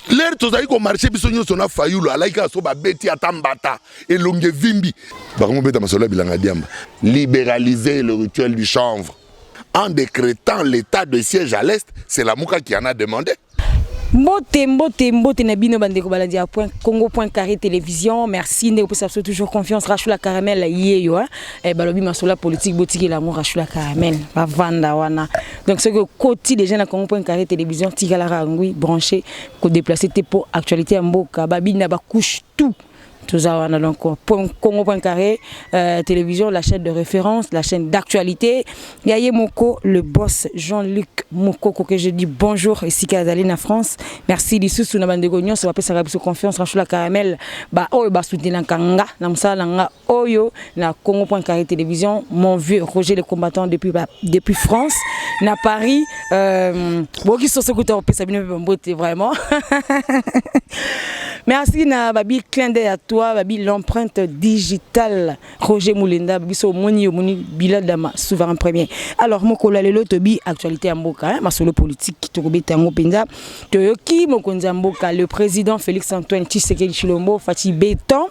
lere tozali komarche biso nyonso na fayulu alaki kaka so babeti ata mbata elongi evimbi bakongo beta masolo ya bilanga diamba liberaliser le rituel du chanvre en décrétant l'état de siège à l'est c'est la muka qui en a demandé mbote mbote mbote na bino bandeko balandi ya point congo point carré télévision merci ndeko pesa biso toujours confiance rachula caramel yeyo hein? eh, balobi masolo ya politique botikela yango rachula caramel bavanda wana donc soki okoti déjà na congo point carré télévision tikalaka ngui branché kodeplace te mpo actualité ya mboka babina bacouche tout toza wana donc point congo point carré euh, télévision la chaîne de référence la chaîne d'actualité ya ye moko le boss jean luc mokoko que je dis bonjour esika azali na france merci lisusu na bandeko nyonso bapesaka biso confiance ranchola caramel baoyo basoutenaka nga na mosala na nga oyo na Congo Point Carré Télévision mon vieux Roger le combattant depuis ba, depuis France na Paris euh, boki soso kuta opesa bino pe mbote vraiment merci na babi clin d'œil à toi babi l'empreinte digitale Roger Moulenda biso moni yo moni Bilal Dama souverain premier alors mokolo ya lelo tobi actualité ya mboka hein, masolo politique tokobeta yango mpenza toyoki mokonzi ya mboka le président Félix Antoine Tshisekedi Chilombo Fatshi Beton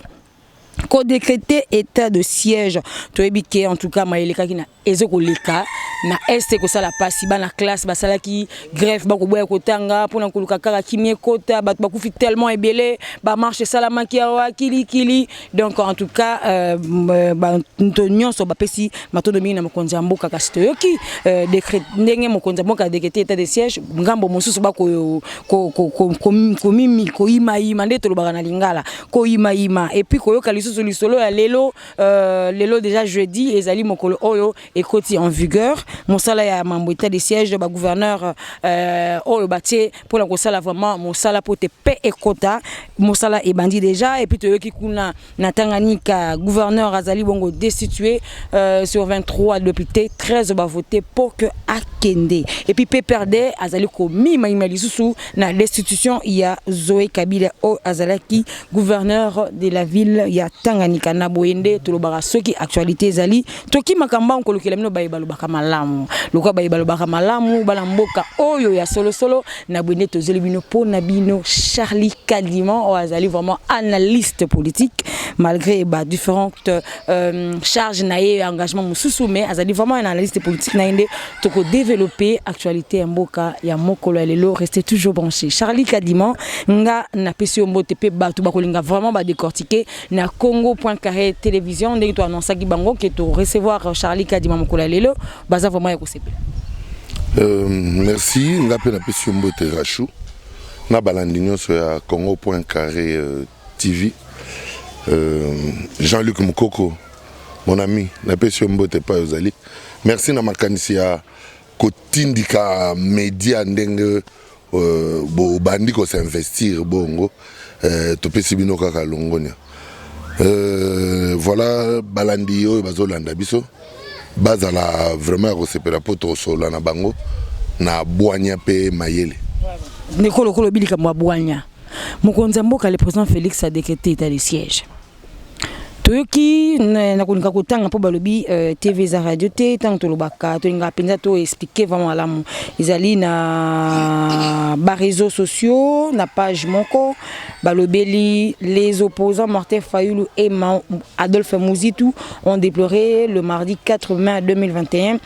ko decreter état de siège toyebi ke en tout cas maye elekaki na ezo koleka na est ekosala mpasi bana classe basalaki greffe bakoboya kotanga mpona koluka kaka kimia ekota bato bakufi tellement ebele bamarche esalamaki awa kilikili donc en tout cas euh, euh, bato nyonso bapesi matondo mingi na mokonzi ya mboka kasi toyoki euh, decret ndenge mokonzi ya mboka adekete etat de siège ngambo mosusu bakoyimayima nde tolobaka na lingala koyima yima et puis koyoka lisusu lisolo ya lelo euh, lelo déjà jeudi ezali mokolo oyo ekoti en vigueur mosala ya mambo état de siège ba gouverneur euh, oyo batie mpo na kosala vraiment mosala mpo te pe ekota mosala ebandi déjà et puis toyoki kuna na Tanganyika gouverneur azali bongo destitué euh, sur 23 députés 13 bavote mpo que akende et puis PPRD azali komimayima lisusu na destitution ya Zoe Kabila oyo azalaki gouverneur de la ville ya Tanganyika na boye nde tolobaka soki actualité ezali toki makambo yango kolukela bino baye balobaka malamu lokola baye balobaka malamu bana mboka oyo ya solosolo na boye nde tozeli bino mpo na bino Charlie Kaliman oyo azali vraiment analyste politique malgré ba différentes euh, charges na ye engagement mosusu mais azali vraiment un analyste politique na ye nde toko developper actualité ya mboka ya mokolo ya lelo restez toujours branché Charlie Kadima nga na pesi yo mbote pe batu bakolinga vraiment ba décortiquer na congo.carré télévision ndenge to annonçaki bango que to recevoir euh, Charlie Kadima mokolo ya lelo baza vraiment ya kosepela euh, merci nga pe na pesi yo mbote Rachou na balandi nyonso ya congo.carré euh, TV euh, Jean-Luc Mukoko Mon ami, napesi yo mbote epai ozali. Merci na makanisi ya kotindika media ndenge euh, bobandi kosinvestir bongo euh, topesi bino kaka longonia euh, voilà balandi oyo bazolanda biso bazala vraiment ya kosepela mpo tosolola na bango na bwanya mpe mayele ndeko lokola obi likambo ya bwanya mokonzi ya mboka le président félix a décrété état de siège toyoki na kolinga kotanga mpo balobi euh, tv eza radio te ntango tolobaka tolingaka mpenza to expliquer vraiment malamu ezali na bareseau sociaux na page moko balobeli les opposants martin fayulu et adolphe muzitu ont déploré le mardi 4 mai 2021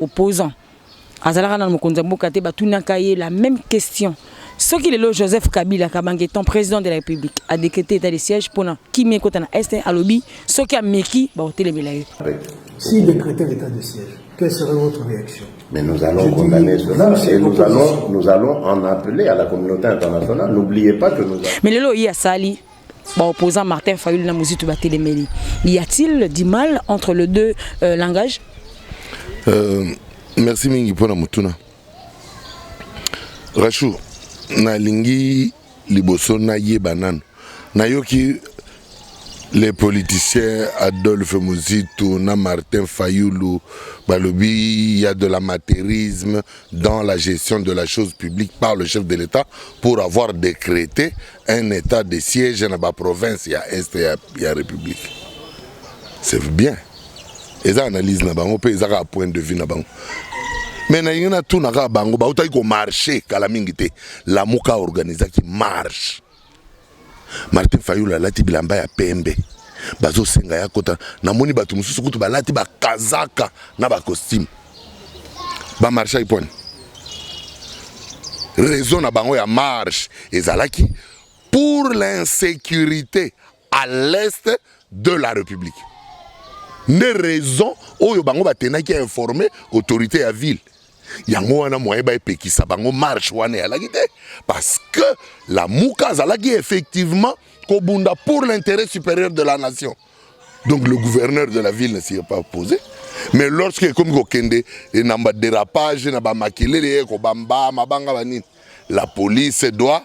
opposant azalaka na mokonzi ya mboka te batunaka ye la même question soki lelo joseph kabila kabange ton président de la république a décrété état de siège mpona kimia ekota na est alobi soki ameki bakotelemela ye si décrété l'état de siège quelle serait votre réaction Mais nous allons Je condamner dis, cela et nous allons, nous allons en appeler à la communauté internationale. N'oubliez pas que nous avons... Mais lelo ye asali Bah, opposant Martin Fayulu na Muzitu Batelemeli. Y a-t-il du mal entre les deux euh, langages euh, Merci mingi pour la mutuna. Rachou, na lingi liboso na yeba nanu. Na yoki les politiciens Adolphe Muzitu na Martin Fayulu balobi il y a de l'amateurisme dans la gestion de la chose publique par le chef de l'État pour avoir décrété Un etat de siège na ba provinces ya est ya, ya république. C'est bien. Eza analyse na bango pe eza ka point de vue na bango. Mais na yina tout na ka bango ba utaki ko marcher kala mingi te. La muka organisa ki marche. Martin Fayula lati bilamba ya pembe. Bazo senga ya kota. Na moni batu mususu kutu balati ba kazaka na ba costumes. ba marchaki mpo nini raison na bango ya marche ezalaki pour l'insécurité à l'est de la république nde raison oyo bango batenaki ya informe autorité ya ville yango wana moyen baepekisa bango marche wana eyalaki te parce que lamuka azalaki effectivement kobunda pour l'intérêt supérieur de la nation Donc le gouverneur de la ville ne s'y est pas opposé. Mais lorsque ekomi kokende eh, na ba dérapage na ba makelele ye eh, kobamba mabanga banini, la police doit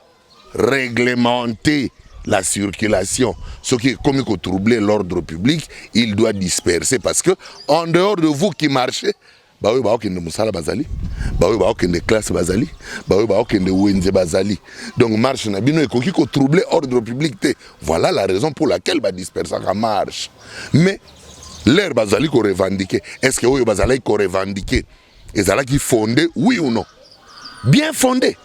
réglementer la circulation. Ce qui est comme troubler l'ordre public, il doit disperser parce que en dehors de vous qui marchez, baoyo baokende mosala bazali baoyo baokende classe bazali baoyo baokende wenze bazali donc marche na bino ekoki kotrouble ordre public te voilà la raison pour laquelle badispersaka marche mais lere bazali korevendike est ce que oyo bazalaki korevendike ezalaki fonde oui ou non bien fonde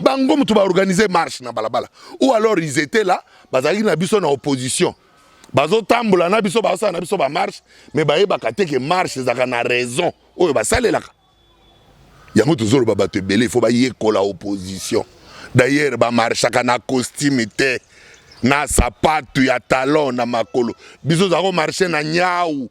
bango moto ba organiser marche na balabala ou alors ils étaient là bazalaki na biso na opposition bazotambola na biso bazosala na biso bamarche mais bayebaka te ke marche ezalaka na raison oyo basalelaka yango tozoloba bato ebele ifo bayekola opposition d'ailleurs bamarchaka na costume te na sapatu ya talon na makolo biso ozala komarche na nyau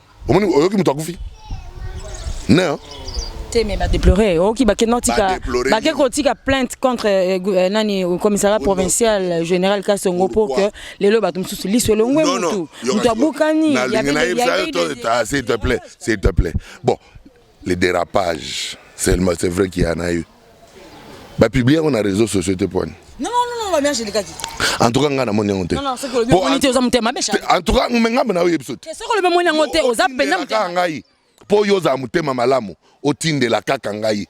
omoni oyoki moto akufi ne hein? te mais badeplore oyoki bake notika bake kotika plainte contre euh, euh, nani euh, commissariat provincial général kasongo mpo que lelo bato mosusu liso elongwe motu moto abukani s'il te plaît s'il te plaît bon Les dérapages, seulement c'est vrai qu'il y en a eu. Ba publier on a réseaux sociaux te poigne. Non non non non, ba bien je le kaki. En tout cas nga na moni yango te. Non non, c'est que le moni te oza mutema be charge. En tout cas nga na oyebi sote. C'est que le moni yango te oza penda mutema. Ngai po yo za mutema malamu otindela kaka ngai.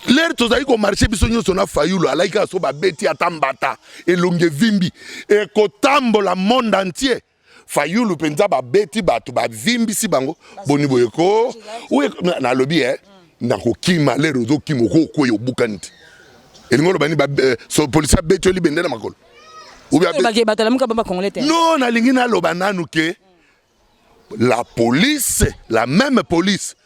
lere tozali komarche biso nyonso na fayulu alaki kaka so babeti ata mbata elongi evimbi ekotambola monde entier fayulu mpenza babeti bato bavimbisi bango boni boye ko nalobi e nakokima lere ozokima okokwei obukani te elingi oloba nini eh, polisi abeti yo libende na makolo no nalingi naloba nanu ke la police la meme police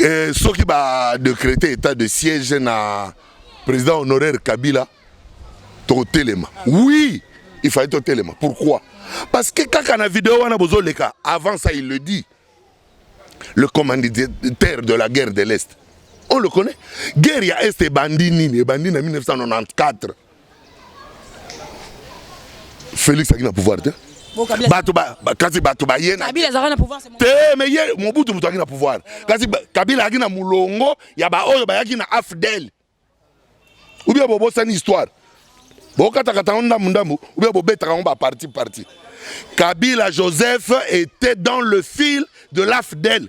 eh, soki ba decrete état de siège na président honoraire kabila tokotelema oui il fallait totelema pourquoi parce que kaka na video wana bozoleka avant ça il le dit le commanditaire de la guerre de l'est on le connaît guerre ya est ebandi nini ebandi na 1994 Felix azalaki na pouvoir te bato kasi bato baye te me ye mobutu moto ayaki na pouvoir kasi kabila ayaki na molongo ya baoyo bayaki na afdel ubia bobosani histoire bokatakata yango ndambu ndambu ubia bobetaka yango baparti parti kabila joseph était dans le fil de l'afdel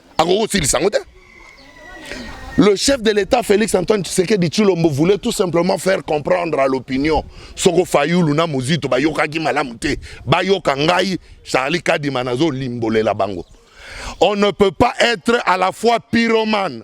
akoki kosilisa yango te Le chef de l'État Félix Antoine Tshisekedi Chilombo voulait tout simplement faire comprendre à l'opinion soko Fayulu na Muzito bayokaki malamu te bayoka ngai Charlie Kadima nazo limbolela bango. On ne peut pas être à la fois pyromane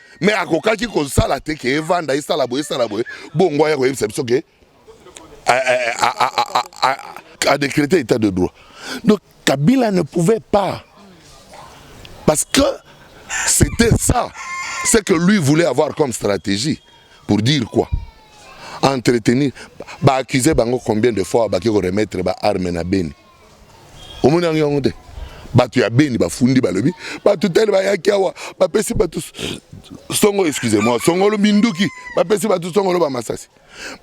mais akokaki kosala te ke evanda esala boye esala boye bongo aya koyebisa biso ke a décrété état de droit donc kabila ne pouvait pas parce que c'était ça ce que lui voulait avoir comme stratégie pour dire quoi entretenir baaccuse bango combien de fois baki koremettre baarme na beni omoni yango yango te bato ya beni bafundi balobi bato tele bayaki awa bapesi bato songo excuse moi songolo minduki bapesi bato songolo bamasasi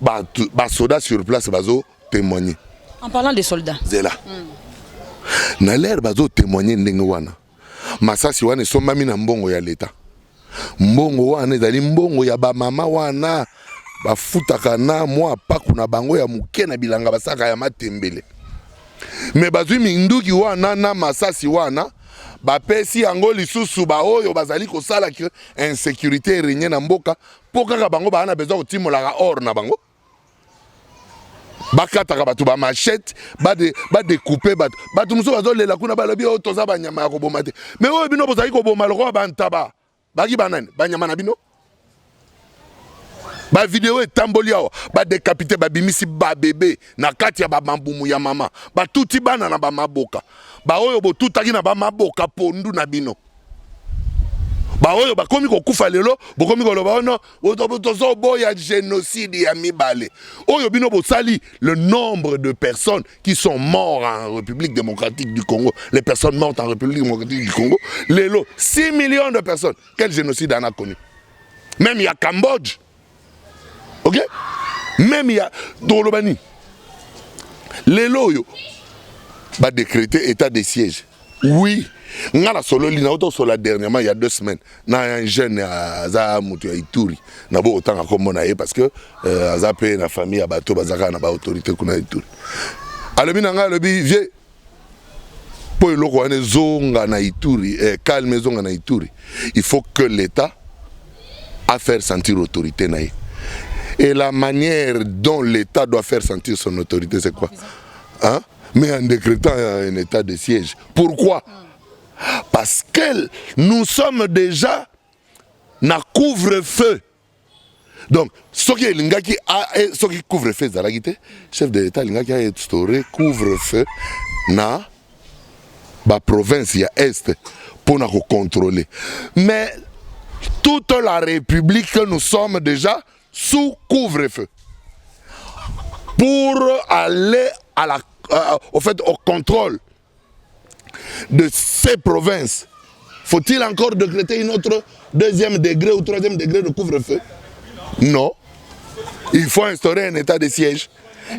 bato basoda sur place bazo témoigner en parlant des soldats zela mm. na lere bazo témoigner ndenge wana Masasi wana esombami na mbongo ya leta. Mbongo wana ezali mbongo ya bamama wana bafutaka na mwa mpaku na bango ya moke na bilanga basaka ya matembele. Me bazwi minduki wana na masasi wana bapesi yango lisusu baoyo bazali kosala ke insecurite erenye na mboka mpo kaka bango baa na besoin kotimolaka or na bango. bakataka bato ba machete badekupe bato bato mosusu bazolela kuna balobi oyo oh, toza banyama ya koboma te me oyo bino bozali koboma lokola bantaba baki banani banyama na bino bavideo etamboli awa badekapite babimisi babebe na kati ya bamabumu ya mama batuti bana na bamaboka baoyo botutaki na bamaboka pondu na bino baoyo bakomi kokufa lelo bokomi koloba ono oh tozoboya génocide ya mibale oyo bino bosali le nombre de personnes qui sont morts en république démocratique du congo les personnes mortes en république démocratique du congo lelo 6 millions de personnes quel génocide en a connu même ya cambodge ok meme ya tokoloba nini lelo oyo badecrete état de siège oui nga nasololi nauta kosola dernièrement ya deux semaines na jeune aza moto ya ituri na bo otanga nkombo na ye parce que euh, aza mpe na famille ya bato bazalaka na baautorité kuna ya ituri alobi na ngai alobi vieux mpo eloko wana ezonga na ituri eh, calme ezonga na ituri il faut que l'état a faire sentir autorité na ye et la manière dont l'état doit faire sentir son autorité c'est quoi hein? mais en décrétant un état de siège pourquoi parce que nous sommes déjà na couvre-feu donc soki elingaki e, soki couvre feu ezalaki te chef de l'etat alingaki ainstaure couvre feu na baprovince ya est mpo na kocontrôler mais toute la république nous sommes déjà sous couvre feu pour aller à la, euh, au fait au contrôle de ces provinces, faut-il encore décréter une autre deuxième degré ou troisième degré de couvre-feu Non. Il faut instaurer un état de siège.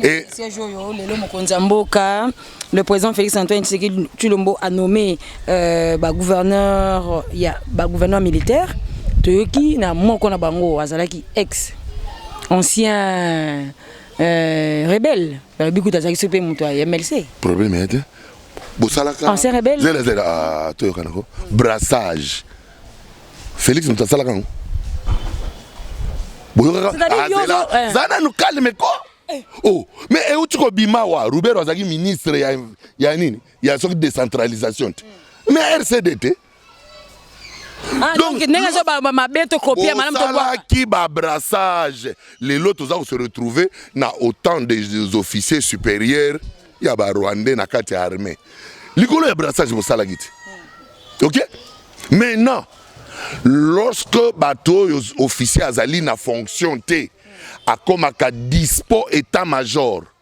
Et... Siège oyo lelo mokonzi ya mboka le président Félix Antoine Tshisekedi Tshilombo a nommé euh, ba gouverneur ya ba gouverneur militaire toyoki na moko na bango azalaki ex ancien euh, rebelle balobi kutu azalaki so mpe moto ya mlc problème ya te bosalaka ancien rebelle zela zela ah, toyokana ko brassage félix moto asalaka yango boyokaka eh. za nanu calme ko eh. oh mais euti kobima wa rubero azalaki ministre ya, ya nini ya soki décentralisation te mais rcd te Ah, donc ndenge ezo ba mabe to kopia malamu tosalaki babrassage lelo toza kose retrouver na autant des officiers supérieurs ya barwandais na kati ya armée likolo ya brassage bosalaki te ok maintenant lorsque bato oyo officier azali na fonction te akomaka dispo état major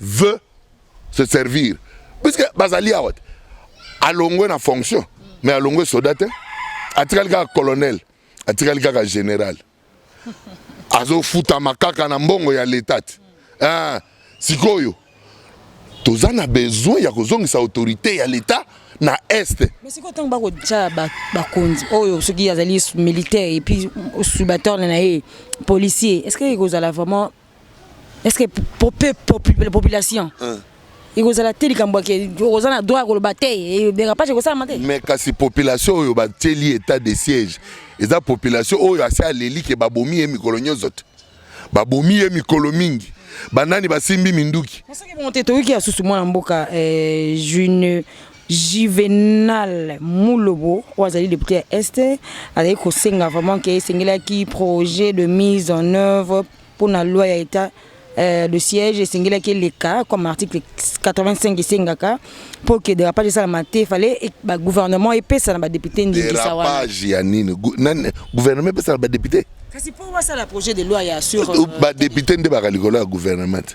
veut se servir puisque bazali awa te alongwe na fonction mais alongwe soda te atikali kaka colonel atikali kaka général azofutama kaka na mbongo ya leta te eh, sikoyo toza na besoin ya kozongisa autorité ya leta na est mais sikoyo ntango bakotya bakonzi oyo soki azali militaire epuis subatorne na ye policier est ce que ekozala vraiment est ce que pour peu la population hein. ekozala te likambo yake oza na droit ya koloba te dérapage ekosalama te mais kasi population oyo batieli état de siège eza population oyo asi aleli ke babomi ye mikolo nyonso te babomi ye mikolo mingi banani basimbi minduki soki bongo te toyoki ya susu mwana mboka eh, june Juvenal Mulobo oyo azali depute ya Est azali kosenga vraiment ke esengelaki projet de mise en œuvre mpo na loi ya etat euh, de siège esengelaki eleka comme article 85 esengaka mpo ke derapage esalama te fale bagouvernement epesa na badepute ndingisa wana derapage ya nini Gu- nani- gouvernement epesa na badepute kasi mpo wasala projet de loi ya sur euh, badepute nde baka likolo ya gouvernement te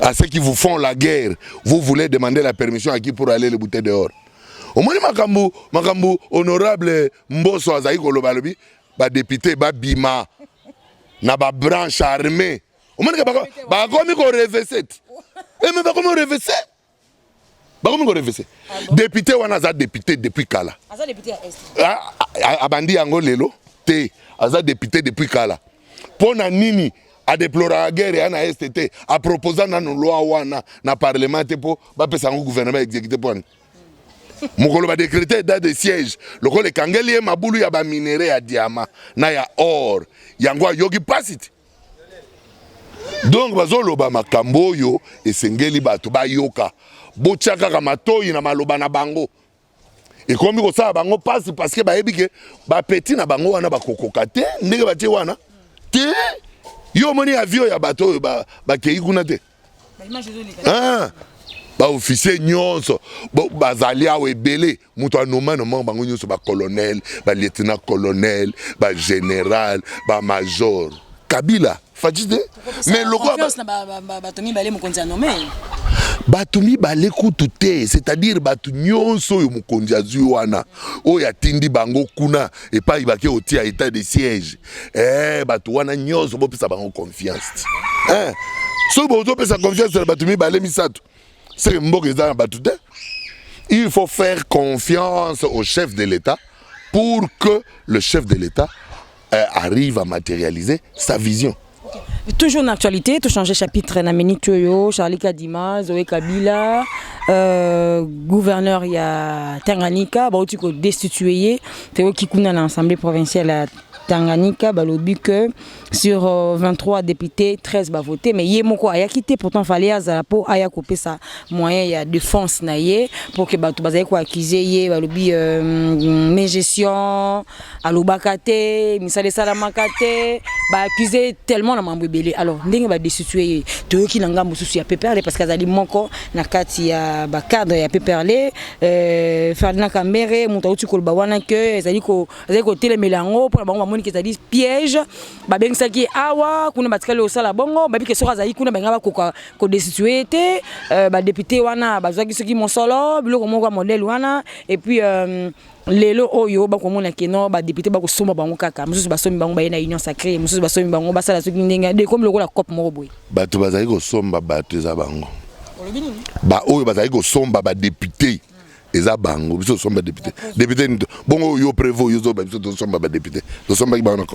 à ceux qui vous font la guerre vous voulez demander la permission à qui pour aller le bouter dehors omoni makambo makambo honorable mboso azali koloba alobi badepute babima na babranche armée omonike bakomi korevese ti eme bakomi korevese bakomi korevese depute wana aza depute depuis kala abandi yango lelo te aza depute depuis kala mpo na nini adeploraka guerre ya na este te aproposa nano loi wana na parlement te mpo bapesa yango gouvernement exécuté mpo ani mokolo badecrete etat de siège lokola ekangeli ye mabulu ya baminere ya diama na ya or yango ayoki mpasi te donc bazoloba makambo oyo esengeli bato bayoka botya kaka matoi na maloba na bango ekomi kosala bango mpasi parceke bayebi ke bapeti na bango wana bakokoka te ndenge batie wana te yo omoni avio ya bato oyo bakei kuna te ah! baofficier nyonso bazali awa ebele moto anoma noma bango nyonso bacolonel balieutenant colonel bagénéral bamajor kabila faci te mais lokola bato mibale kutu te c'est-à-dire bato nyonso oyo mokonzi azwi wana oyo atindi bango kuna epai bake otia etat de siège eh bato wana nyonso bopesa bango confiance eh soki bozopesa confiance na bato mibale misato seke mboka eza na bato te il faut faire confiance au chef de l'État pour que le chef de l'État euh, arrive à matérialiser sa vision. Toujours une actualité, tout changer chapitre na minute yo, Charlie Kadima, Zoé Kabila, euh, gouverneur ya Tanganyika, ba otiko destituer, teo kikuna na assemblée provinciale ya Tanganyika, ba lobi que sur 23 euh, députés, 13 ba voté, mais yé moko aya quitté pourtant fallait azala po aya couper sa moyen ya défense na yé pour que ba tout bazali ko accuser yé ba lobi euh, gestion alobaka te misala esalamaka te baaccuse tellement na mambo ebele alors ndenge badestitue ye toyoki na ngambo mosusu ya peperle parce que azali moko na kati ya bacadre ya peperle euh, ferdinand kambere moto auti koloba wana ke ezali kotelemela yango mpo na bango bamoniki ezali piège babengisaki awa kuna batikali kosala bongo babike soki azali kuna balinga bakoka kodestitue ye te euh, badepute wana bazwaki soki mosolo biloko moko ya modele wana epuis euh, lelo oyo bakomona ke no badepute bakosomba bango kaka mosusu basombi bango baye na union sacré mosusu basombi bango basala soki ndenge de ekomi lokola cope moko boye bato bazali kosomba bato eza bango baoyo bazali kosomba badepute eza bango biso tosomba depute depute nini bongo yo prevo yo zoba biso tosomba badepute tosombaki bango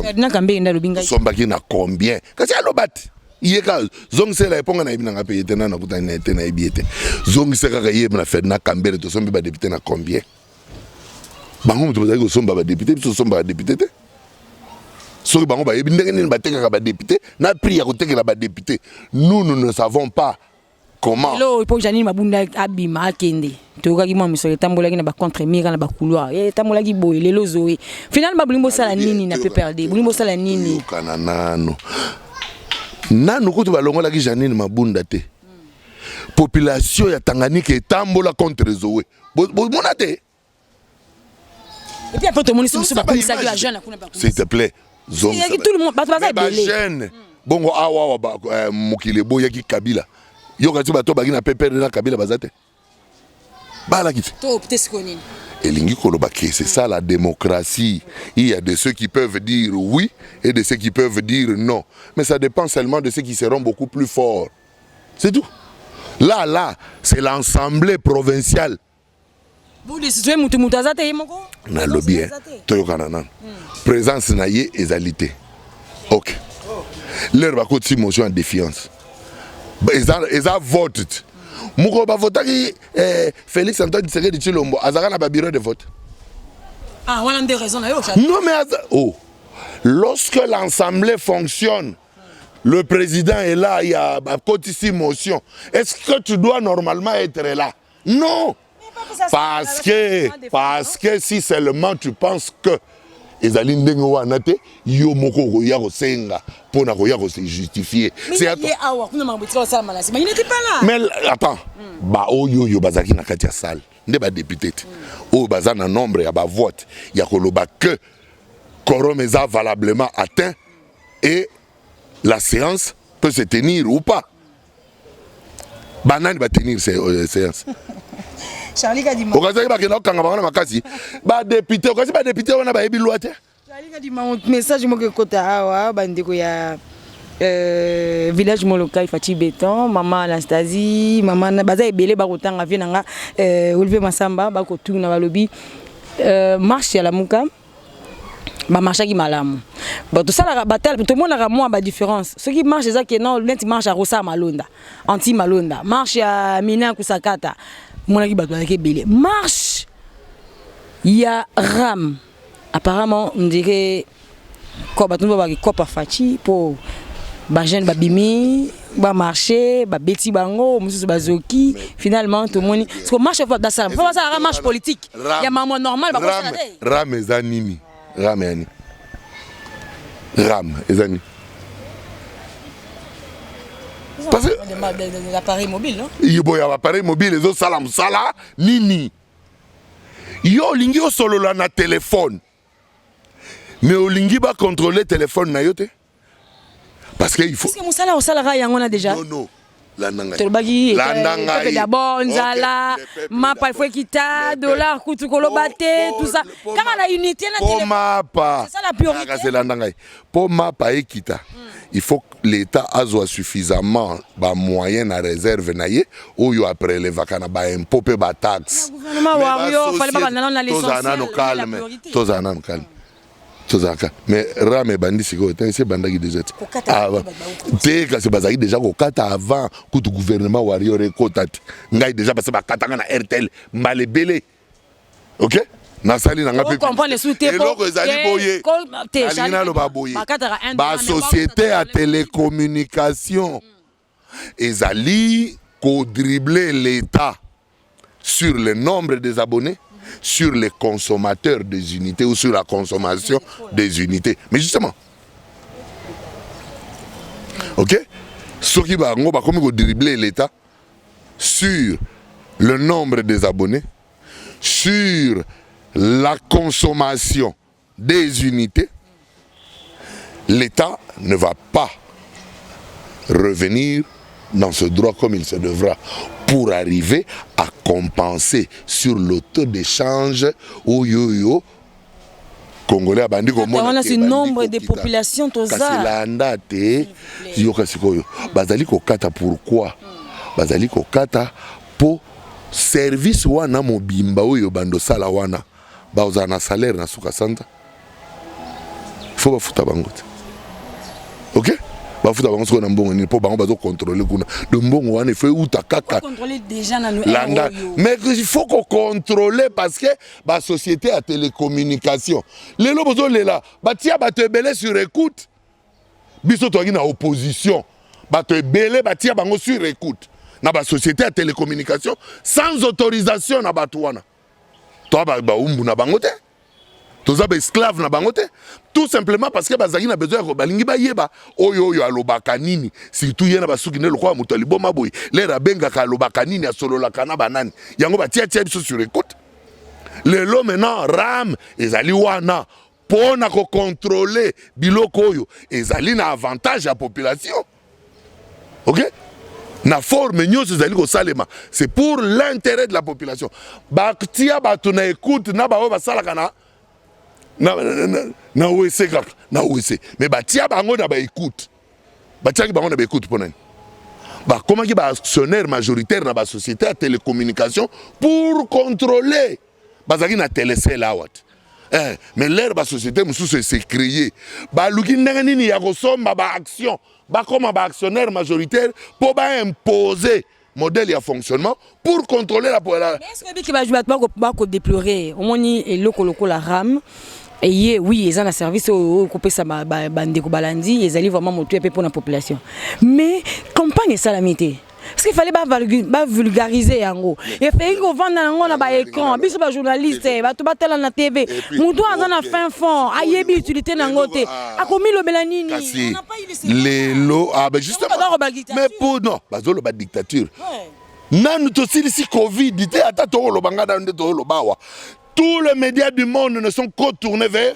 nasombaki na combien kasi aloba te ye kaka zongisela ye mpo nga nayebi na ngai mpe ye te nana nakutani na ye te nayebi ye te zongisa kaka ye na fedna kambele tosombi badepute na combien bango moto bazali kosomba badepute biso tosombaka depute te soki bango bayebi ndenge nini batekaka badepute na prix ya kotekela badepute nous nous ne savons pas comment lelo oyo mpo janine mabunda abima akende toyokaki mwa misolo etambolaki na bacontre mira na bacouloir eh, etambolaki boye lelo zoe final ba bolingi bosala nini na pprd bolingi bosala nini yokana nano nano kutu balongolaki janine mabunda te population ya tanganyika etambola contre zoe bomona te s'il te plaît bajeune bongo awa eh, mokili eboyaki kabila yoka ti bato baki na pepere na kabila baza te balaki te elingi koloba ke c'est ça la démocratie il y a de ceux qui peuvent dire oui et de ceux qui peuvent dire non mais ça dépend seulement de ceux qui seront beaucoup plus forts C'est tout. Là, là, c'est l'ensemble provincial. Vous décidez, mutu mutu azate yemoko. Na lobby, hein. Toyokana nan. Hmm. Présence na ye ezalité. Ok. Leur va coûter motion en défiance. Eza, eza vote. Moko ba votaki eh, Félix Antoine Tshisekedi Tshilombo azaka na ba bureau de vote. Ah, voilà une des raisons là. Non mais oh. Lorsque l'assemblée fonctionne, le président est là ya bakotisi motion est-ce que tu dois normalement être là non parce que parce que si seulement tu penses que ezali ndenge wana te yo moko okoya kosenga mpo na koya kose justifie mais attends hmm. baoyo oyo bazalaki na kati ya salle nde badepute te hmm. oyo baza na nombre ya bavote ya koloba que quorum eza valablement atteint et la séance peut se tenir ou pas banani batenir euh, séance okazaki bakenda kokanga bango na makasi badepute okasi badepute wana bayebi lwa te message moko ekota awa bandeko ya Euh, village molokai fati beton mama anastasie mama baza ebele bakotanga vie na nga euh, olivier masamba bakotuna balobi euh, marche ya lamuka ba marchaki malamu bato salaka batala tomonaka mwa ba différence soki marche eza ke non neti marche ya rosa malonda anti malonda marche ya mina kusakata monaki bato bazalaki ebele marche ya ram apparemment on dirait ko bato nde babaki kopa faci mpo bajeune babimi ba marché ba beti bango mususu bazoki finalement tomoni siko marche fa dasala fa basala marche politique ya mama normal ba kosala te ram eza nini ram yani ram eza nini parce que l'appareil mobile non yibo ya appareil mobile ezo sala musala nini yo olingi osolola na telefone mais olingi bakontrole telefone na yo te parce que il faut. Est-ce que musala osala ka yango na déjà? Non non. tolobaki eh, dabord nzala mapa ifo ekita dollar kutu koloba te tusa kaka na unité naelanda ngai mpo mapa ekita il faut l'état azwa suffisamment bamoyen na réserve na ye oyo aprelevaka na baimpôt mpe bataxetozala nano calme tozala nano calme tozalaka mais rame ebandi sikoyo te esi ebandaki deja te ah, te kasi bazalaki deja kokata avant kutu gouvernement warrior ekota te ngai deja base bakatanga na rtl mbala ebele ok nasali na ngaieloko ezali boye alingi naloba boye basociété ya télécommunication mm. ezali ko dribbler l'etat sur le nombre des abonnes sur les consommateurs des unités ou sur la consommation des unités. Mais justement, ok soki bango bakomi kodrible l'état sur le nombre des abonnés sur la consommation Desunite, l'Etat ne va pas revenir dans ce droit comme il se devra pour arriver à compenser sur le taux d'échange oyoyo congolais abandi komona c'est nombre de population toza kasi landa te yoka sikoyo bazali kokata pourquoi bazali kokata po service wana mobimba oyo bando sala wana bakozala na salaire na suka sanza fo bafuta bango te ok bafuta bango sikoyo na mbongo nini mpo bango bazokontrole kuna de mbongo wana efo euta kaka landa mais il faut kokontrole parce que basociété ya télécommunication lelo bozolela batia bato ebele sur écoute biso toyaki na opposition bato ebele batia bango sur écoute na basociété ya télécommunication sans autorisation na bato wana toa baumbu na bango te toza baesclave na bango te tout simplement parce que bazalaki na besoin yako balingi bayeba oyo oyo alobaka nini surtout ye na basuki nde lokola moto ya liboma boye lere abengaka alobaka nini asololaka na banani yango batiatia biso sur écoute lelo maintenant ram ezali wana mpo na kokontrole biloko oyo ezali na avantage ya population ok na forme nyonso ezali kosalema c'est pour l'intérêt de la population batia bato na écoute na baoyo basalaka na na, na, na, na wese kaka na wese mais batia bango na baécoute batiaki bango na baécoute mpo nani bakomaki baactionnaire majoritaire na basociété ya télécommunication pour contrôler bazalaki na telesele awa te eh, mais lere basociété mosusu ese créer baluki ndenge nini ya kosomba baaction bakoma baactionnaire majoritaire mpo baimpose modèle ya fonctionnement pour contrôler la pola bato bakodeplorer omoni eloko lokola rame eye oui eza na service oyo ekopesa bandeko balandi ezali vraiment motuya mpe mpo na population mais campagne esalami te ce qu'il fallait ba vulgariser yango et fait ko vanda nango na ba écran biso ba journaliste eh, bato batala na TV mutu aza na fin fond ayebi utilité nango te ah. akomi lobela nini lelo ah ben justement mais pour non bazo loba dictature nanu tosilisi covid te ata tokoloba ngai nanu nde tozoloba awa tous les médias du monde ne sont qu'au tourner vers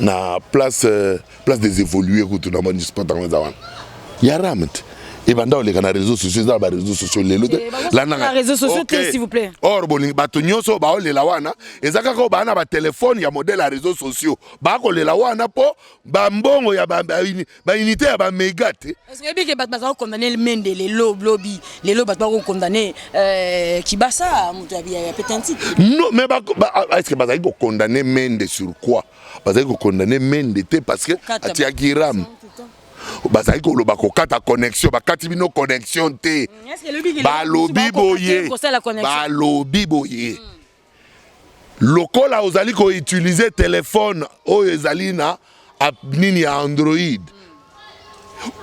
na place euh, place des évoluer kutu na moni sport yango eza wana ya rame te ebanda oleka na réseau sociaux eza na baréseau sociaux lelo te eh, or bolingi bato nyonso baolela wana eza kaka baa na batelefone ya modele ya réseau sociaux bakolela wana mpo bambongo ya ba unité ya ba mega te est-ce que bike bat baza condamner le mende le lo blobi le lo bat ba condamner euh kibasa mutu ya bien pétantique non mais ba ah, est-ce que baza ko condamner mende sur quoi baza ko condamner mende te parce que atia giram bazali koloba kokata connexion bakati bino connexion te mm, balobi boye balobi boye lokola ozali ko utiliser telephone oyo ezali na app nini ya Android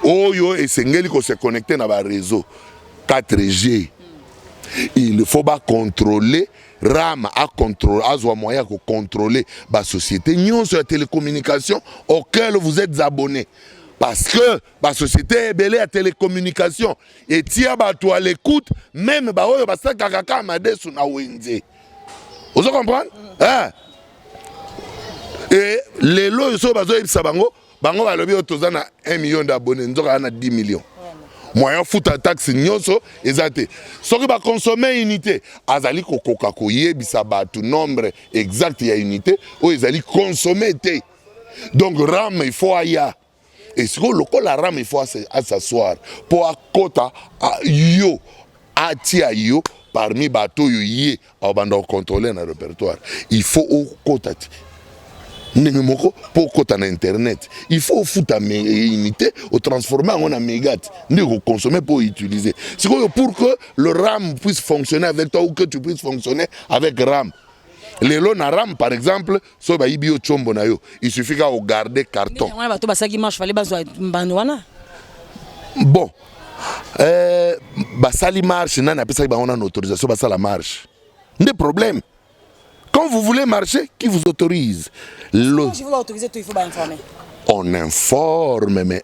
oyo esengeli ko se connecter na ba réseau 4G il faut ba contrôler ram azwa moyen ya kocontrole basociété nyonso ya télécommunication auquel vous êtes abonné parce que ba société ebele ya telecommunication etia bato à l'écoute meme baoyo basakaka kaka madesu na wenze ozo comprendre eh? e lelo oyo soki bazoyebisa bango bango balobi oyo toza na 1 million d'abonné nzoka na 10 million moyen ofuta taxe nyonso eza te soki baconsomme unité azali kokoka koyebisa bato nombre exact ya unité oyo ezali consomme te donc ram il faut aya e sikoyo lokola rame il faut asassoir mpo akota yo atia yo parmi bato oyo ye abanda kocontrole na répertoire il faut okota ti ndenge moko mpo okota na internet il faut ofuta unité otransforme yango na mégate nde okoconsomme mpo outiliser sikoyo pour que le ram puisse fonctionner avec toi ou que tu puisse fonctionner avec ram lelo na ram par exemple soki bayibi yo chombo na yo il suffit kaka kogarde carton wana bato basalaki marche fale bazwa mbano wana bon eh, basali marche nani apesaki bango nano autorisation basala marche nde problème quand vous voulez marcher qui vous autorise Le... on informe mais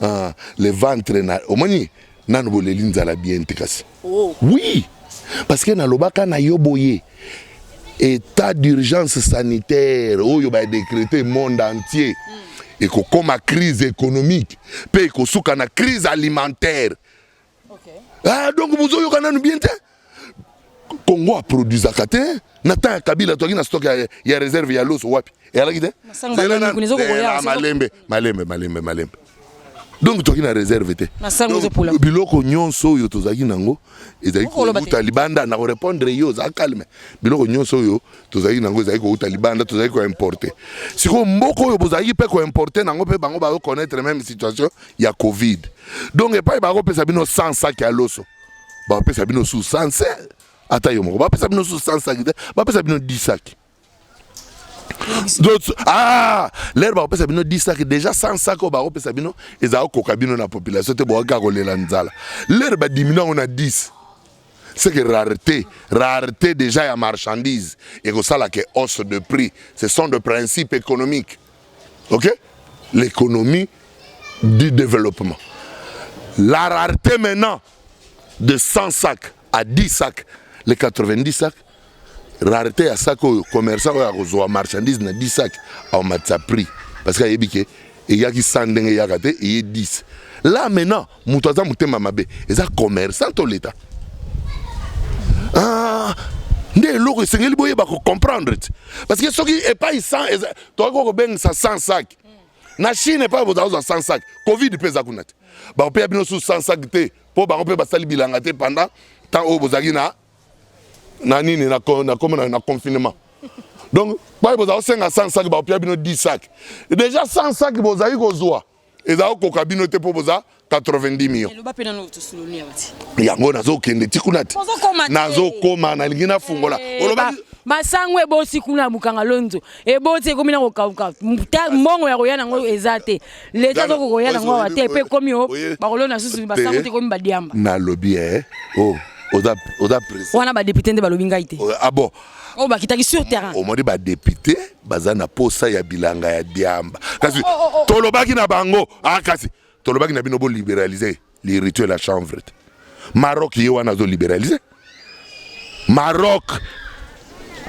Ah, le ventre na omoni nanu boleli nzala bien te kasi. Oh. Oui. Parce que nalobaka na yo boye état d'urgence sanitaire oyo ba décrété monde entier mm. ekokoma crise économique mpe ekosuka na crise alimentaire Okay. Ah, donc bozoyoka nanu bien te Congo aproduisaka te na temps ya Kabila toaki na stock ya, ya réserve ya loso wapi eyalaki te malembe malembe malembe malembe donc toki na réserve te biloko nyonso oyo tozalaki nango ezalaki kouta libanda na korépondre yo oza calme biloko nyonso oyo tozalaki nango ezalaki kouta libanda tozalaki koimporte sikoyo mboka oyo bozalaki mpe koimporte nango mpe bango baoconnaître même situation ya covid donc epai bakopesa bino 100 saki ya loso bakopesa bino su 100 ata yo moko bapesa bino su 100 saki te bapesa bino 10 saki d'autres ah lere bakopesa bino 10 saki déjà 100 saki oyo bakopesa bino ezala kokoka bino na population te bokaka kolela nzala lere badimini yango na 10 c'est que rareté rareté déjà ya marchandise ekosala ke hausse de prix ce sont de principe économique ok l'économie du développement la rareté maintenant de 100 sacs à 10 sacs les 90 sacs rareté ya sac oyo commerçant oyo akozwa marchandise na 10 sacs aomatisa prix parce que ayebi ke eyaki 100 ndenge eyaka te eye 10 là maintenant moto aza motema mabe eza commerçant to leta ah, nde eloko esengeli boyeba kocomprendre ti parce que soki epai sans eza tokoki kokobengisa sans sac na chine epai bozala kozwa sans sac covid mpe eza kuna te bakopeya bino susu sans sac te mpo bango mpe basali bilanga te pendant temps oyo bozalaki na na nini na, na, na, na confinement donc pai bozala kosenga 100 sac bakopeya bino 10 sac déjà 100 sac bozali kozwa eza okoka bino te mpo boza 90 millions yango nazokende ti kuna te nazokoma nalingi nafungola eh, oloba masango ebosi kuna ya mokanga lonzo eboti ekomi na kokauka mbongo ya koya nango eza te leta azoko koya nango awa te mpe ekomi o bakolona susu basango te ekomi badiamba nalobi e eh, o oh, oza wana badepute nde balobi ngai te ah bon oyo oh, bakitaki sur terrain omoni badepute baza na posa ya bilanga ya diamba kasi oh, oh, tolobaki na bango ah, kasi tolobaki na bino boliberalize le rituel ya chanvre te maroc ye wana azoliberalize maroc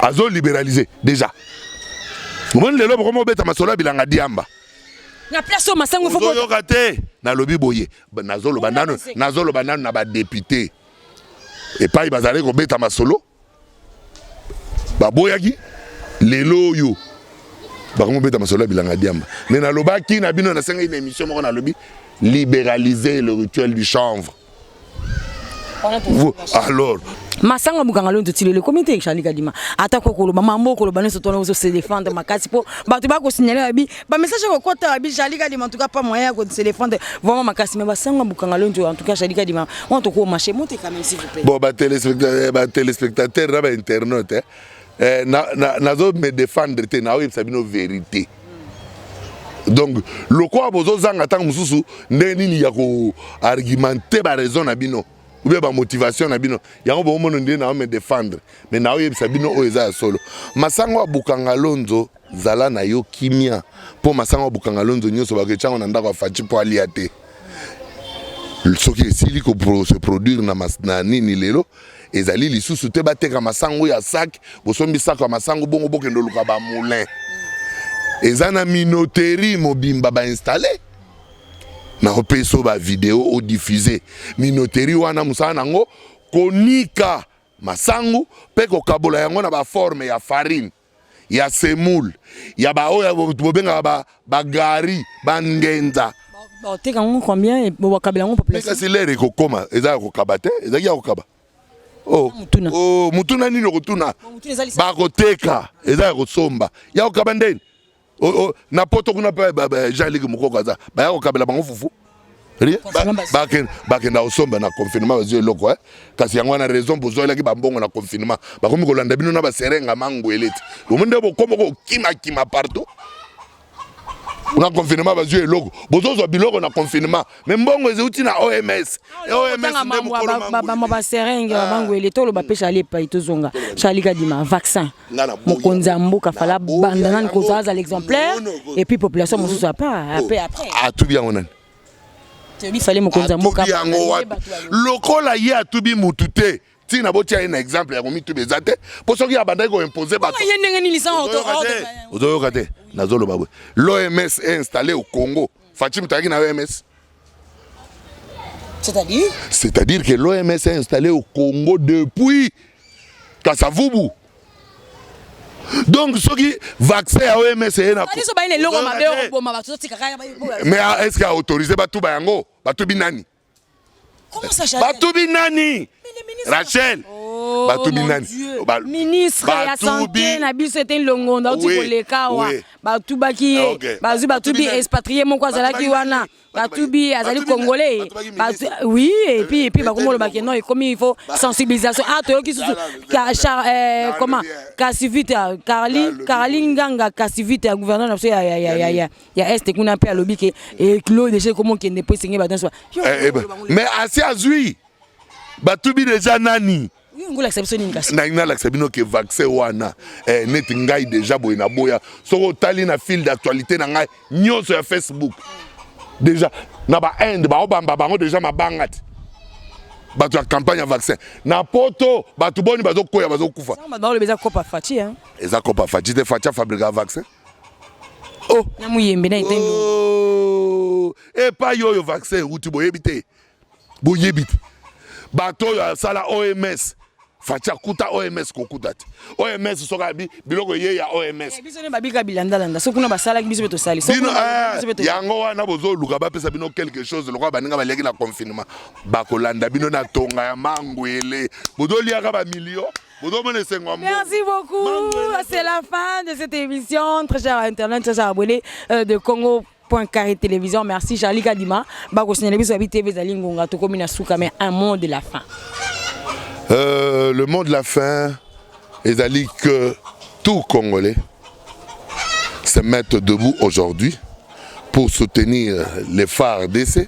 azoliberalize déjà omoni lelo bokoma obeta masolo ya bilanga diamba na place oyo masango oyoka te nalobi boye nazoloba nanu na badepute epai bazali kobeta masolo baboyaki lelo oyo bakomi kobeta masolo ya bilanga diamba me nalobaki na bino nasengaki na émission moko nalobi libéraliser le rituel du chanvre alors masanga mokanga lonto ti lelo ekomi te charli kadima atako okoloba mambo okoloba nyonso tona ozose defendre makasi mpo bato bakosignale babi ba message ko kota bi jali ka dima en tout cas pas moyen ko se défendre vraiment makasi mais ba sanga bukanga lonjo en tout cas jali ka dima on to ko marcher monte quand même s'il vous plaît bon ba téléspectateurs eh, ba téléspectateurs na ba internautes hein. eh, na na nazo me défendre te na oyebisa bino vérité donc lokola bozozanga ntango mosusu ndenge nini ya koargumente baraison na bino oubien bamotivation na bino yango bomono nde na me défendre mais naoyebisa bino oyo eza ya solo masango ya bukanga lonzo Zala na yo kimia po masanga bukanga lonzo nyoso ba kechango na ndako afachi po alia te. Soki esili ko se produire na, mas, na nini lelo ezali lisusu te bateka masango ya sac bosombi sako ya masango bongo bokende oluka ba moulin eza na minoterie mobimba ba installer nakopesa yo bavideo odifuse minoteri wana mosala na yango konika masangu mpe kokabola yango na baforme ya farine ya semoule ya baoyo bobengaka ba, ba gari ba ngenza bateka yango combien bobakabela yango population kasi lere ekokoma eza ya kokaba te ezalaki ya kokaba oh, oh, mutuna nini okotuna bakoteka eza ya kosomba ya kokaba ndeni oh, oh, na poto kuna mpe jean liki mokoko aza baya kokabela bango fufu bakenda kosomba na confinement bazwi eloko eh. kasi yango wana raison bozwelaki bambongo na confinement bakomi kolanda bino na baserenga mangwele ti bomo nde bokomi kokimakima partout na confinement bazwi eloko bozozwa biloko na confinement me mbongo ezeuti na oms omsbaserenge ah. bamangwele toloba mpe chali epai tozonga chali kadima vaccin mokonzi ya mboka fala banda nani kozala azala exemplaire et puis population mosusu apa ape après atubi yango nani bifale mokonzi ya mboka yango wapi lokola ye atubi mutu te ntina botia ye na exemple ya komituba eza te mpo soki abandaki koimpose batozoyoka te nazoloba boye l'oms est installé au congo faci moto ayaki na oms C'est-à-dire C'est-à-dire que l'OMS est installée au Congo depuis Kasavubu. Donc soki vaccin ya OMS eye na biso bayi na eloko mabe okoboma bato totika kaka mais est-ce que autorisé batuba yango batubi nani Comment ça, Chanel Batubi nani Rachel oh, Batubi nani ba, Ministre batubi... ya santé na biso ete longondo auti oui, koleka awa oui. batubaki ye okay. bazwi batubi expatrié moko azalaki wana batubi azali congolais batu, oui et puis et puis bakomoloba ke non ekomi il faut sensibilisation ah toyoki susu eh, comment kasivita carli carli nganga kasivita ya gouverneur na biso ya, ya, ya, ya, ya, ya est kuna mpe alobi ke eclos deja ekomokende mpo esenge badanse wa eh, eh, mais asi azwi batubi deja nani nalingi nalakisa bino ke vaccin wana eh, neti ngai deja boye na boya soki otali na fil d'actualité na ngai nyonso ya facebook deja na bainde baobamba bango deja mabanga ti bato ya campagne ya vaccin na poto bato boni bazokwea bazokufa eza copa faci te faci afabrika vaccin oh. na muyembe na etendo oh. epai oyo vaccin euti boyebi te boyebi te bato oyo asala oms faci akuta oms kokuta te oms soki abi biloko eye ya oms eh, biso ne babika bilandalanda soki kuna basalaki biso mpe tosali eh, yango wana bozoluka bapesa bino quelque chose lokola baninga baliaki na confinement bakolanda bino na tonga ya mangwele bozoliaka bamilio Merci beaucoup. C'est la fin de cette émission. Très cher Internet, très cher abonné euh, de Congo. Point carré télévision merci Charlie Kadima bako signaler biso abi TV zali ngonga to komi na suka mais un mot de la fin euh, le mot de la fin ezali que tout congolais se mettent debout aujourd'hui pour soutenir les phares d'essai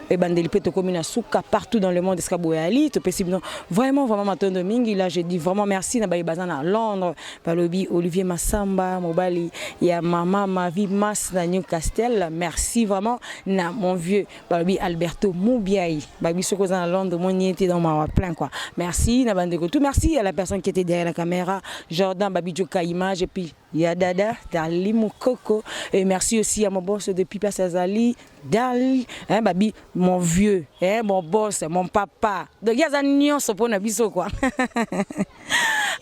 ebandeli mpe tokomi na suka partout dans le monde esika boyali topesi bino vraiment vraiment matondo mingi là je dis vraiment merci na baye baza na londres balobi olivier masamba mobali ya mama mavi mas na newcastle merci vraiment na mon vieux balobi alberto mubiai babi soki oza na londres omoni ye te donc mawa plein quoi merci na bandeko tout merci à la personne qui était derrière la caméra jordan babi joka image et puis ya dada darli mukoko et merci aussi à mon boss depuis place azali Darling eh babi mon vieux eh mon boss mon papa donc ye aza nyonso mpo na biso kwa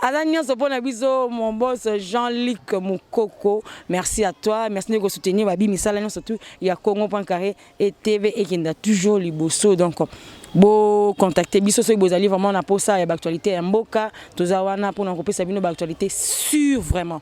aza nyonso mpo na biso mon boss Jean-Luc Mukoko merci à toi merci ndeko soutenir babi misala nyonso tout ya Congo point carré et TV ekenda toujours liboso donc bo contacter biso soki bozali vraiment na posa ya ba actualité ya mboka toza wana mpo na kopesa bino ba actualité sur vraiment